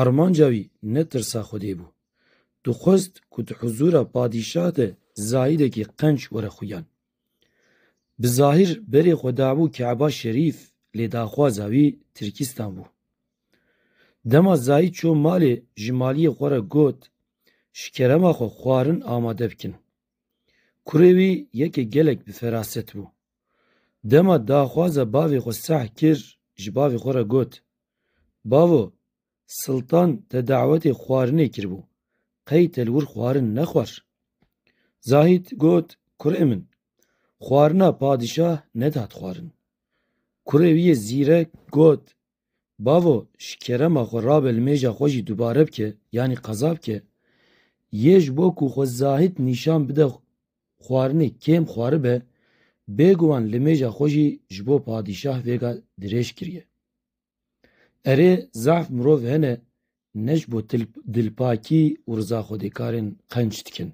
Armanca wî ne tirsa Xwedê bû. Dixwest ku di huzûra padîşah de zayidekî qenc were xuyan. Bi zahîr berê xwe dabû Keba Şerîf lê daxwaza wî Tirkîstan bû. Dema zayid çû malê ji maliyê xwe re got, Ji kerema xwe xwarin amade bikin. Kurê wî yekê gelek bi feraset bû. Dema daxwaza bavê xwe seh kir ji bavê xwe re got, Bavo, Siltan te dawetê xwarinê kiribû, qey te li wir xwarin nexwar? Zahît got, Kurê min, xwarina padîşah nedihat xwarin. Kurê wî yê zîrek got, Bavo, ji kerema xwe rabe li mêja xwe jî dubare bike, yanî qeza bike. Yê ji bo ku xwe zahît nîşan bide Xwarinê kêm xwaribe, bêguman limêja xwe jî ji bo padîşah vêga dirêj kiriye. Erê, zehf mirov hene ne ji bo dilpakî û rizaxwedêkarên qenc dikin.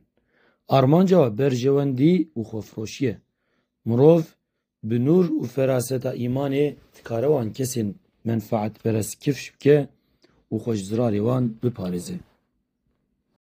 Armanca we berjewendî û xwefiroşî ye. Mirov bi nûr û feraseta îmanê dikare wan kesên menfaetperest kifş bike û xwe ji zirarê wan biparêze.